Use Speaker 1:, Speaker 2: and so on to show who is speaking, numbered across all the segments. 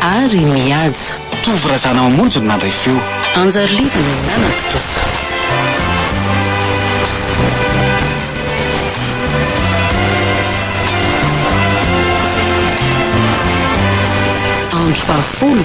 Speaker 1: Ary nihaja.
Speaker 2: Tovo Razana
Speaker 1: Mamonjy no nandray feo. Anjary Lidy no
Speaker 2: nanan-tontosa. Andro fahafolo.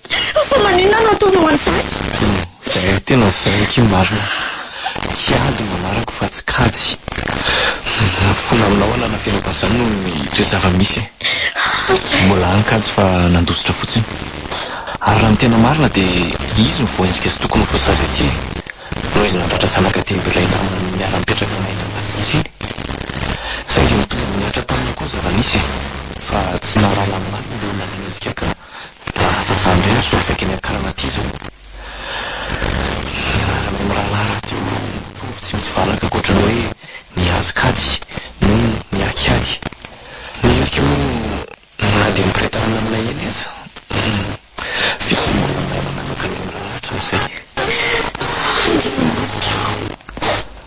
Speaker 3: Fa maninona no ataonao an'izany? Zahay
Speaker 1: tena zaiky io marina. Kiady no anarako fa tsy kajy. Ny fona aminao alana feno tahaka izany noho ny toe zava-misy e. Mbola any kajy fa nandositra fotsiny. Ary raha ny tena marina dia izy no voaenjika sy tokony ho voasazy aty e. Noho izy nandratra zanaka dimy b'ilay namany niara-nipetraka aminay tany Matsitsy iny. Saingy nitovy amin'ny niatra taminy koa ny zava-nisy e. Fa tsy nahalala ny marina no nanenjika kajy. Lasa zandry ihany zao feky eny an-karana aty zao. Fiarahana amin'ny mirahalahy rahateo no mitovy tsy misy valaka ankoatran'ny hoe ny hazo kajy no miaky ady. Ny ery koa moa na dia miretanana aminay eny aza fisaorana manaraka ny mirahalahy hatramin'izay. Tafiditra ao.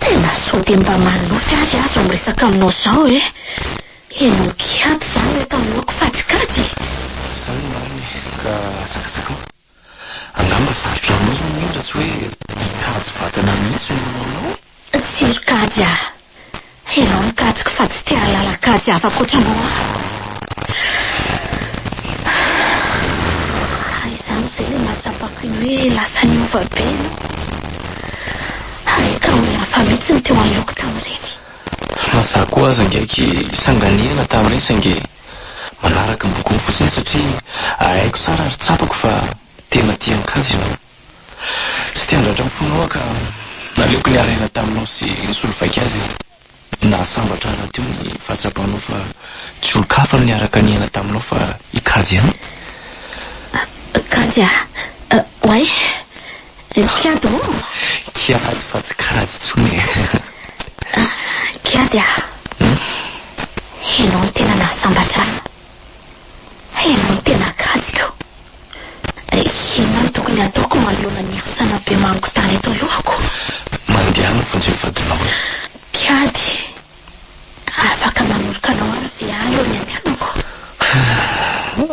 Speaker 3: Tena sao dia mba manonofy ary aho izao miresaka aminao izao e! Henoko hiady izany eto anoloako fa tsy kajy e! Izany no
Speaker 1: marina e! Ka zakazakao. Angamba sarotra aminao izao ny hoe raha tsy hoe mikajy vatana mihitsy no manao anao e! Tsy ry kajy
Speaker 3: aho. Ianao no kajiko fa tsy te hahalala kajy hafa ankoatranao aho. Ary izany izay ilay nahatsapako ny hoe lasa niova be ianao. Ary ka olona hafa mihitsy no teo anoloako tamin'ireny. Fa za
Speaker 1: koa aza ngeky sanganehana tamin'ireny saingy manaraka ny bokon'ny fotsiny satria haiko tsara ary tsapako fa tena tia an-kajy ianao. Tsy te handratra ny fonao aho ka naleoko niara-hiaina taminao sy nisolo vaika azy aho. Nahasambatra ahy rahateo ny fahatsapanao fa tsy olon-kafa no niaraka niaina taminao fa i Kajy ihany. Kajy
Speaker 3: ah? Oay! Kiady ô! Kiady fa
Speaker 1: tsy Kajy intsony e!
Speaker 3: Kiady ah! Ianao no tena nahasambatra ahy. Ianao no tena Kajy ko! Dia inona no tokony hataoko manoloana ny hosana be mangon-tany eto alohako? Mandeha any
Speaker 1: ny vonjeo vadinao e! Kiady,
Speaker 3: afaka manoroka anao aho ve any eo ny andehanako?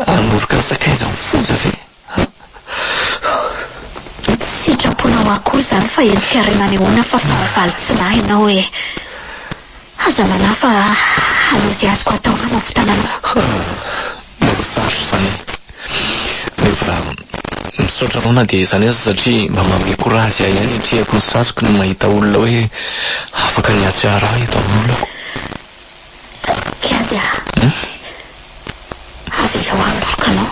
Speaker 3: Hanoroka
Speaker 1: ny sakaiza amin'ny foza ve?
Speaker 3: Tsy sitraponao akory izany fa eny Fiarina anehoana fa fahavalo tsy nahy ianao e! Aza manahy fa hanao izay azoko atao hanavotana anao.
Speaker 1: Morosarotra izany. Rehefa misaotra anao na dia izany aza satria mba manome courage ahy ihany atrehako ny saziko ny mahita olona hoe afaka ny hahatsiaro ahy eto amin'olako.
Speaker 3: Kianja a. Avelao handrosoka anao.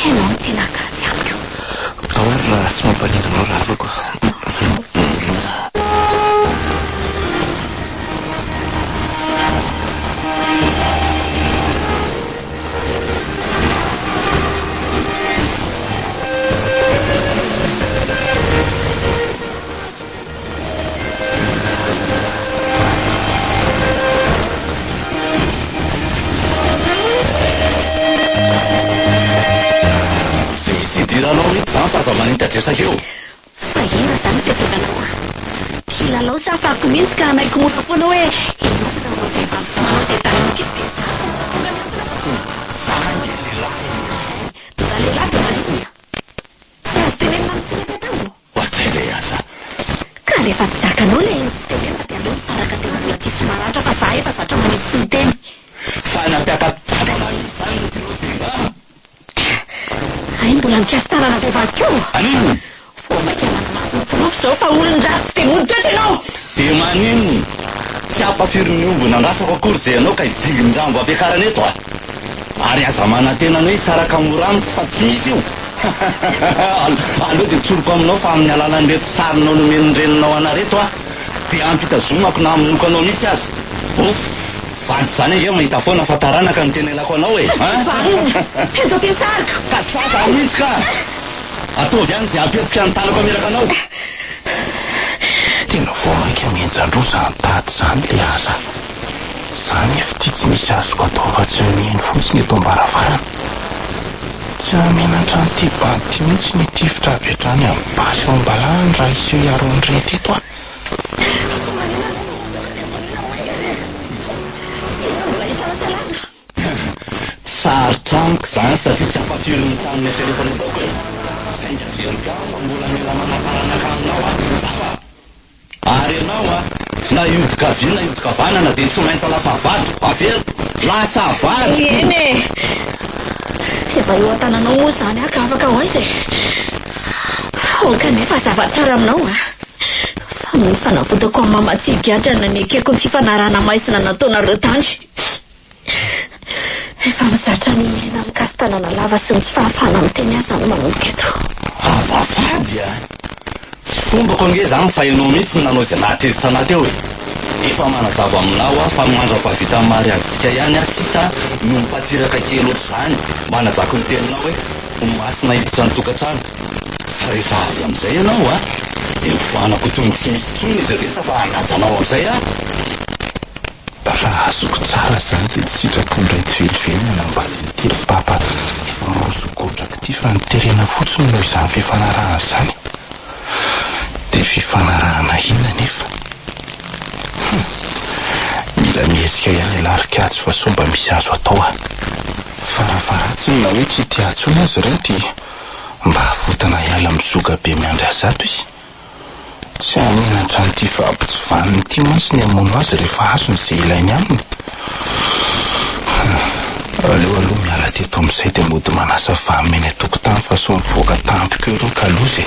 Speaker 3: Ianao no tena kajy amiko. Ao ary
Speaker 1: raha tsy mampaninona anao ravako.
Speaker 4: Tsy hisy idiranao mihitsy izany fa aza manitatra esa eo. Fa hira
Speaker 3: zany fiatovana hoa. Kilalao sa fako mihintsy ka hanaiky mora foana hoe hiomana aminao vehivavy zao anao zay tany amin-kely dia zara ny mahatonga ny olona hoe tonga. Za
Speaker 4: ange lehilahy e! Hay, tonga
Speaker 3: lehilahy tonga liana. Tsy azo tenenina ny tsy mety atao. Ohatry le aza.
Speaker 4: Ka rehefa
Speaker 3: tsy zakanao le tsy tenenina dia aleo misaraka teo aloha diso maratra fa za efa zatra manidy sy miteny.
Speaker 4: Fa
Speaker 3: nampiaka-tavana
Speaker 4: izany ny trio dia nga Hay
Speaker 3: mbola mikasy tanana vehivavy koa ô! Maninona? Vao maika
Speaker 4: nanamafy
Speaker 3: ny porofo izao fa olon-dratsy dia mody toetra ianao! Dia
Speaker 4: maninona? Tsy hampafirin'ny omby nandrasako akory izay ianao ka hidingin-drambo hampiakarana eto a! Ary aza manantena ny hoe hisaraka mora amiko fa tsy misy io! Aleo dia tsoriko aminao fa amin'ny alalan'ireto sarinao nomen'ny reninao anà ireto aho dia ampitazomako na hamonoako anao mihitsy aza! Ouf! Vady zany ange mahita foana fa taranaka no tena ilako anao e! An! Vahiny!
Speaker 3: Doka hisariko! Ka sa zany mihitsy
Speaker 4: ka! Ataovy any ze hampietsika ny tanako hameraka anao!
Speaker 1: Tena vao mainka mihenjan-droa zany tady zany le asa! Za nefo ity tsy misy azoko atao afa-tsy ny mihaino fotsiny eto am-baravarana! Tsy ahamenatra an'ity bande ity mihitsy ny hitifitra avy hatrany amin'ny basy ao am-balahany raha hiseho hiaro an'ireto eto aho! Fa maninona moa no
Speaker 4: voatery ho maika re? Inona no mbola isalasalana? Sarotra amiko izany satria tsy ampafirin'ny tany ny eritreretany ataoko e! Saingy averiko aho fa mbola mila manam-paranaka aminao aho ry zava! Ary ianao an! Na hiodiko havia na hiodiko havanana dia tsy maintsy lasa vadiko! Averiko! Lasa vadiko! Eny e!
Speaker 3: Efa eo an-tananao moa izany an ka afaka ho aiza e! Aoka anay mazava tsara aminao fa ny fanavotako an'i Mama tsy higadra na ny ekeko ny fifanarahana maizina nataonareo tany. Efa mizatra ny aina amin-kasin-tanana lava sy ny tsy fahafahana miteny aza no manomboka eto. Azafady
Speaker 4: a! Tsy fombako ange izany fa ianao mihitsy no nanao izay nahatezitra anà teo e! Efa manazava aminao aho fa mandra-pahavitan'ny mariazintsika ihany aho sisa no mipatiraka kely ohatr'izany, manajako ny teninao e! Ho maty naiditra ny tokantrano. Fa rehefa avy amin'izay ianao a, dia hofoanako tongotra iny intsony izy rehetra fa hanaja anao amin'izay aho.
Speaker 1: Raha azoko tsara izany dia tsy sitrako indray tsy velively ny hanambady ny telopapa efa roso godraka ity fa ny terena fotsiny no izany fifanarahana izany. Dia fifanarahana inona anefa? Hum. Mila mihetsika ihany ialahy ry Kajy fa sao mba misy azo atao aho. Farafaharatsiny na hoe tsy tia intsony aza ireo dia mba avotana hiala amin'ny zoga be miandry azy ato izy. Tsy haneho hatramin'ity fahabotsivaniny ity mantsy ny hamono azy rehefa azony izay ilainy aminy. Aleo aloha miala teto amin'izay dia mody manasa vahana eny an-tokotany fa sao mivoaka tampoka eo ireo kaloza e!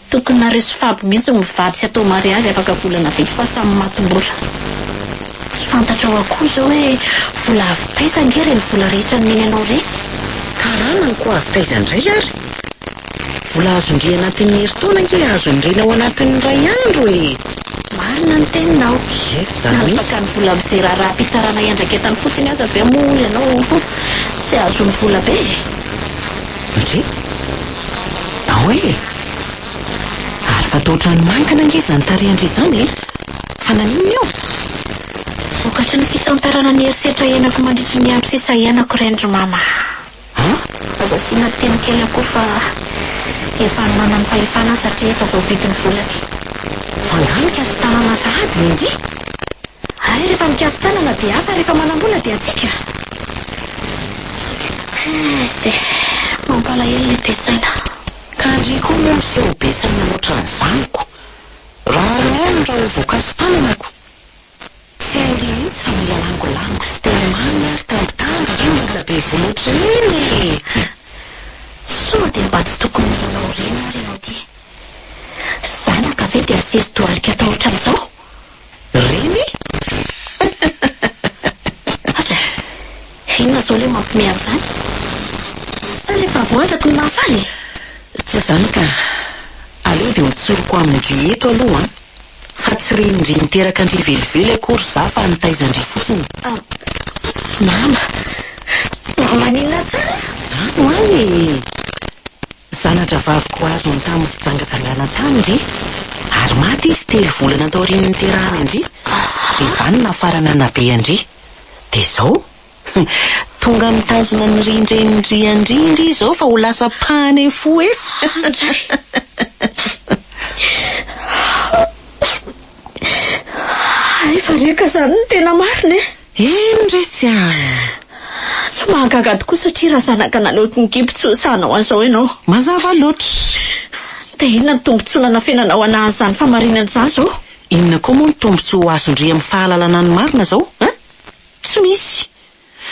Speaker 3: Tokony nareso fab mihitsy mivady sy atao mariazy afaka volana vitsy fa samy maty mora. Tsy fantatrao akoho izao hoe vola avy taiza ange ireny vola rehetra nomeny anao ireny? Karana ny ko
Speaker 2: avy taiza indray ary? Vola azon-dry anatin'ny herintaona ange azon'ny reny ao anatin'ny iray andro e! Marina
Speaker 3: ny teninao. Nanapaka
Speaker 2: ny vola amin'izay
Speaker 3: raharaham-pitsarana iandraiketany fotsiny aza ve moa ianao? Tsy azony vola be e!
Speaker 2: Re? Ao e! Ary fataotran'ny mankana ange izany tarehin-dry izany e! Fa naninona eo?
Speaker 3: Vokatry ny fisantarana ny herisetra iainako mandritry ny andro sisa iainako ireny ry Mama a! An? Aza asiana teny kely akory fa efa any manam-pahefana aho satria efa voavidin'ny volany. Fa angaha
Speaker 2: mikasa-tanana sahady ve ndry? Ary
Speaker 3: rehefa mikasy tanana dia hafa rehefa manambola dia atsika. Ze, mampalahelo ilay toe-tsaina. Ka ry
Speaker 2: koa moa miseho be saina loatra ny zanako. Raha ry ahy no raha voakasy tananako. Tsy hainy mihitsy fa mila langolango sy teny mamy ary tantara io mila be vola ohatran'iny e!
Speaker 3: Soa dia mba tsy tokony nilalao ireny ary ianao ty. Zanaka ve dia asesy dohalika atao ohatran'izao? Reny e! Inona izao ilay mampime ahy izany? Sa ilay fahavoazako no mahafaly e? Tsy izany
Speaker 2: ka! Aleo dia ho tsoriko amin-dry eto aloha an! Fa tsy ren-dry niteraka an-dry velively akory izaho fa nitaizan-dry fotsiny.
Speaker 3: Mama! Maninona tsara? Izany ho'a e!
Speaker 2: Zana-drahavaviko azo ny tamin'ny fijangajangana tany ndry, ary maty izy telo volana taorian'ny niterahana an-dry, dia zany nafarana nabe an-dry. Dia izao, tonga mitazona ny rin-drenin-dry an-dry ndry izao fa ho lasa pane fou e!
Speaker 3: Hay fa reka izany no tena marina e! Eny re tsy
Speaker 2: aa!
Speaker 3: Tsy mahagaga tokoa satria raha zanaka naloto ny kibo tsy ho sahy hanao an'izao ianao. Mazava loatra.
Speaker 2: Dia
Speaker 3: inona ny tombontsoa nanafenanao hanahy an'izany fahamarinana izany izao? Inona koa moa ny
Speaker 2: tombontsoa ho azon-dry amin'ny fahalalana ny marina izao a! Tsy misy!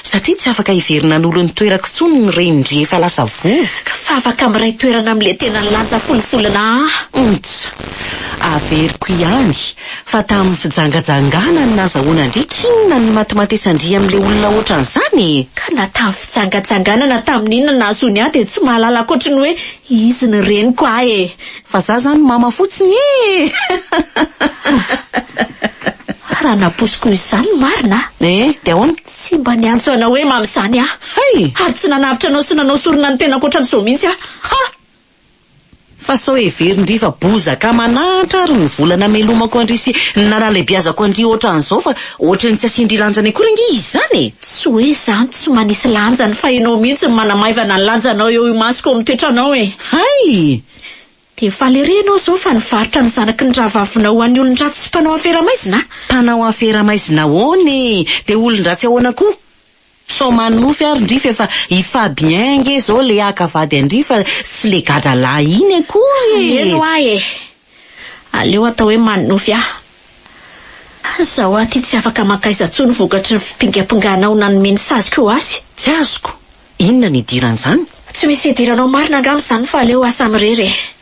Speaker 2: Satria tsy afaka hiverina hanolo ny toerako intsony ny renin-dry efa lasa vovoka. Fa afaka miray
Speaker 3: toerana amin'ilay tena nilanja folo volana aa! Ontsa!
Speaker 2: Averiko ihany Fa tamin'ny fijangajangana no nazahoana an-dry k'inona no matimatisan-dry amin'ilay olona ohatran'izany e? Ka na tamin'ny
Speaker 3: fijangajangana na tamin'inona nahazoany ahy dia tsy mahalala ankoatry ny hoe izy ny reniko ahy e! Fa za zany mama
Speaker 2: fotsiny ee!
Speaker 3: Raha nampoiziko ho izany ny marina aho. Ee, dia ahoana?
Speaker 2: Tsy mba niantso
Speaker 3: anao hoe mama izany aho. Hay! Ary tsy nanavotra
Speaker 2: anao
Speaker 3: sy nanao sorona ny tenako ohatran'izao mihitsy aho. Ha!
Speaker 2: Fa sao heverin-dry fa bozaka aman'ahitra ary ny vola namelomako an-dry sy ny nanalebiazako an-dry ohatran'izao fa ohatran'ny tsy asian-dry lanjany akory ange izy izany e! Tsy hoe izany tsy
Speaker 3: manisy lanjany fa ianao mihitsy no manamaivana ny lanjanao eo imasoko amin'ny toetranao e! Hay!
Speaker 2: Dia faly
Speaker 3: ery ianao izao fa nivarotra ny zanaky ny rahavavinao ho an'ny olon-dratsy sy mpanao afera maizina a! Mpanao afera
Speaker 2: maizina ahoana e! Dia olon-dratsy ahoana koa? Sao manofy ary ndry f'efa i Fabien nge zao le haka vady an-dry fa tsy le gadra lahy iny akory e! Heno ahy e!
Speaker 3: Aleo atao hoe manofy aho. Zaho aty tsy afaka mankaiza tsony vokatry ny fipingampinganao nanome ny saziko ho azy. Tsy azoko,
Speaker 2: inona ny idiran'izany? Tsy misy idiranao
Speaker 3: marina angamba izany fa aleo asa mirery e!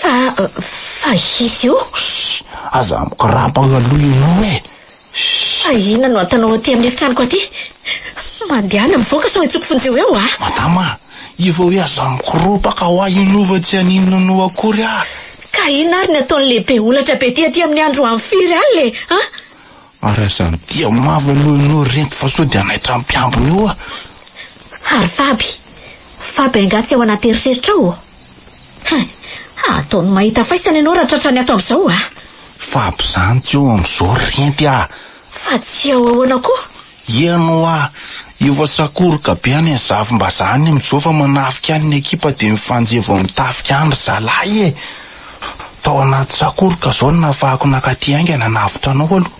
Speaker 3: Fa, fa hisy io? Shh! Aza
Speaker 1: mikorapagna aloha ianao e! Shh! Fa
Speaker 3: inona no ataonao aty amin'ny efitranoko aty? Mandehana mivoaka sao hentsoiko fonjeo eo a! Madama, io
Speaker 1: fa hoe aza mikoropaka hoa inona io fa tsy haninona anao akory aho. Ka inona ary ny
Speaker 3: ataon'ny lehibe holatra be ty aty amin'ny andro amin'ny firy alina e! An? Ary aza
Speaker 1: mitia mavo aloha ianao ry Rento fa sao dia hanaitra ny mpiambina eo ah! Ary
Speaker 3: Faby, Faby angaha tsy ao anaty eritreritra ao ô? Hein, ataony mahita faisana ianao raha tratrany ato amin'izao ah! Faby izany
Speaker 1: tsy ao amin'izao ry Renty ah! Fa tsy ao
Speaker 3: ahoana koa? Ian oa,
Speaker 1: efa sakoroka be any ny zafimbazaha any amin'izao fa manafika any ny ekipa dia mifanjehy vao mitafika any ry zalahy e! Tao anaty sakoroka izao no nafahako nakaty haingana hanavotra anao aloha.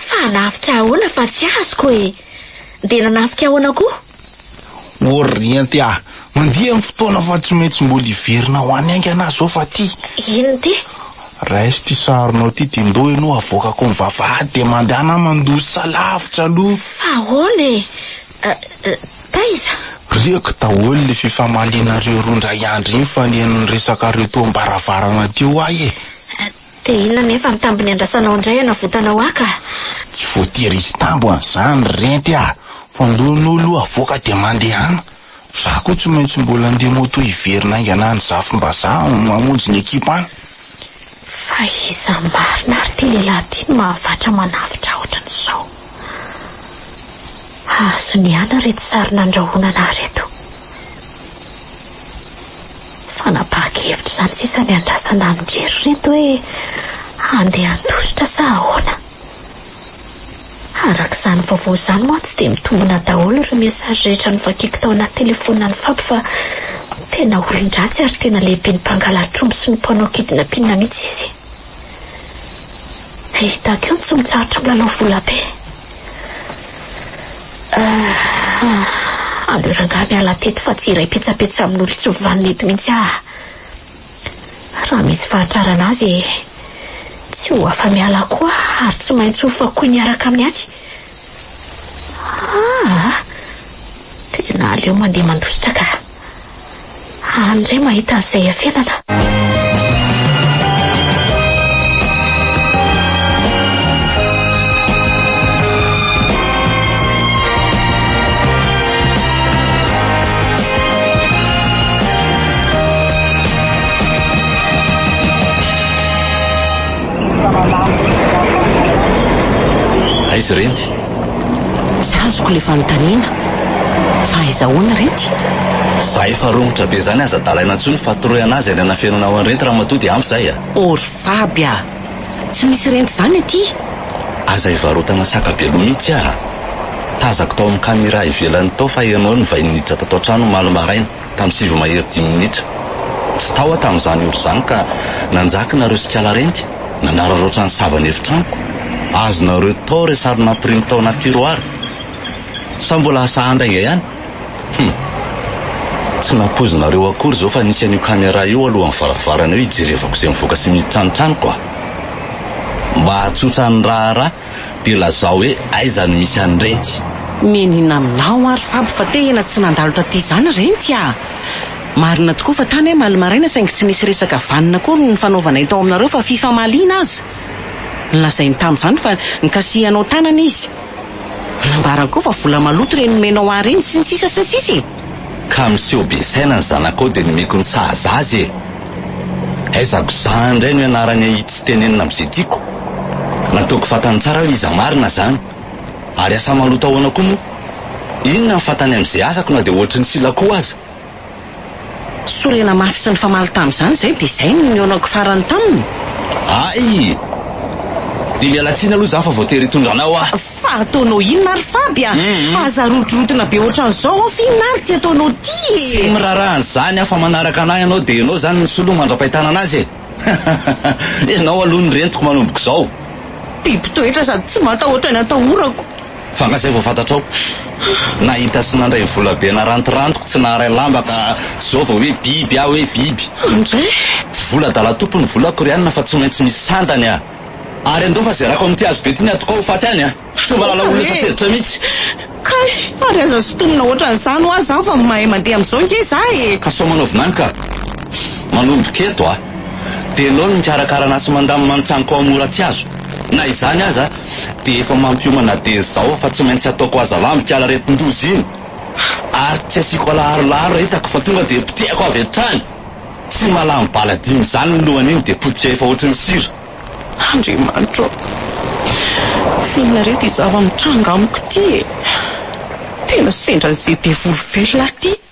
Speaker 1: Fa hanavotra
Speaker 3: ahoana fa tsy azoko e! Dia nanafika ahoana koa?
Speaker 1: Orriente a! Mandia ny fotoana fa tsy maintsy mbola hiverina ho any haingana aho zao fa ty. Inn ty?
Speaker 3: Raiso ty
Speaker 1: sarinao ty de ndao ianao avoakako ny vavahady de mandana mandositra lavitra aloha. Fa ahoana e?
Speaker 3: Taiza? Riako
Speaker 1: daholo le fifamalianareo roa ndray andry iny fa nen'ny resakareo teo ambaravarana teo ahy e. De inona
Speaker 3: nefa ny tambiny andrasanao ndray hanavotanao ahy ka? Tsy voatery
Speaker 1: hisy tambo an'izany ry renty a! Voalohanao aloha avoaka dia mandehana. Za koa tsy maintsy mbola handeha moto hiverina haingana any Zafimbazaha hamonjy ny ekipa any. Fa
Speaker 3: iza marina ary ity lehilahy ity no mahavatra manavotra ohatran'izao? Azony ihany ireto sary nandrahona anah ireto. Fanapahan-kevitra izany sisa ny andrasana amin-dry ireto hoe handeha handositra sa ahoana? Araka izany vaovao izany mantsy dia mitombina daholo ireo message rehetra novakiko tao anaty telefonina an'i Fab fa tena olon-dratsy ary tena lehiben'ny mpangala-tromby sy ny mpanao kidnapina mihitsy izy. Hahita koa ny tsy mitsahatra milalao volabe. Aleo rangahy miala teto fa tsy hiray petsapetsa amin'olon-tsy vanona eto mihitsy aho. Raha misy fahatrarana azy e! Tsy ho afa-miala koa ary tsy maintsy ho fakoy miaraka amin'ny ahy. Ah! Tena aleo mandeha mandositra ka. Any indray mahita an'izay afenana.
Speaker 4: Aiza ireny? Tsy
Speaker 2: azoko ilay fanontaniana. Fa aiza ahoana ireny? Za efa
Speaker 4: romotra be zany aza dalaina tsony fa toroy anazy any anafenina ao an'ireny ramatoa dia ampy zay a. Ô ry faby
Speaker 2: a! Tsy misy rent izany aty. Aza
Speaker 4: hivarotana saka be loha mihitsy ah! Tazako tao amin'ny camera ivelany tao fa ianao no vain'ny niditra tato an-trano omaly maraina tamin'ny sivy mahery dimy minitra. Tsy tao aho tamin'izany ora izany ka nanjaka nareo sy kala renty nanararaotra ny savan'ny efitranoko. Azonareo tao re sary nampirimo tao anaty tiroara. Sa mbola asa anda inga ihany? Hum. Tsy nampoizinareo akory izao fa nisy an'io caméra io alohan'ny varavarana eo hijerevako izay mivoaka sy miditra ny tranoko a! Mba hahatsotra ny raharaha dia lazao hoe aiza no misy an'ireny? Mianiana
Speaker 2: aminao aho ry Fabo fa tehina tsy nandalo taty izany re ny Tia a! Marina tokoa fa tany aho maly maraina saingy tsy nisy resaka vanona akory ny nifanaovanay tao aminareo fa fifamaliana aza! Nolazainy tamin'izany fa nikasihanao tanana izy. Nambarany koa fa vola maloto ireny nomenao ahy ireny sy ny sisa sy ny sisa e! Ka miseho
Speaker 4: be saina ny zanakao dia nomeko ny sahaza azy e! Aiza ko za indray no ianarany ahitsy tenenina amin'izay tiako? Nataoko fantany tsara hoe iza marina izany. Ary asa maloto ahoana koa moa? Inona ny fantany amin'izay asako na dia ohatry ny sila koa aza?
Speaker 2: Sorena mafy sy nifamaly tamin'izany izay dia izay no nihaonako farany taminy. Hay!
Speaker 4: Dia miala tsiny aloha izaho fa voatery hitondra anao aho. Fa ataonao inona
Speaker 2: ary Faby a! Aza rotorotina be ohatran'izao aho fa inona ary ity ataonao ity e! Tsy miraharaha an'izany
Speaker 4: aho fa manaraka anà ianao dia ianao izany ny soloha mandra-pahitanana azy e! Ianao aloha no rentiko manomboka izao. Be mpitoetra
Speaker 2: sady tsy matahotra ny atahorako. Fa nga zay vao
Speaker 4: fantatrao? Nahita sy nandray vola be narantirantiko tsy naharay lamba ka zao vao hoe biby aho e, biby. Amin'izay?
Speaker 2: Vola adala
Speaker 4: tompony vola korianina fa tsy maintsy misy sandany a! Ary andao fa zerako amin'ity hazo be ity ny atokao ho faty any a! Tsy mba lala olona efa tezitra mihitsy! Kay!
Speaker 2: Ary aza sintomina ohatran'izany hoa zaho fa mahay mandeha amin'izao ange za e! Ka sao manao vilany ka!
Speaker 4: Manomboka eto a! Belao ny mikarakara an'ahy sy mandamina ny tranoko ao amin'ny oratiazo! Na izany aza, Dia efa mampiomana dia izao fa tsy maintsy ataoko hazava mikala aretin-doza iny ary tsy asiako alaharolaharo raha hitako fa tonga dia potehako avy hatrany. Tsy mahalany bala dimy izany ny lohany iny dia potika efa ohatry ny sira. Andriamanitro
Speaker 2: ô! Tsinona re ity zava-mitranga amiko ity e! Tena sendran'izay devoly very lahy ity!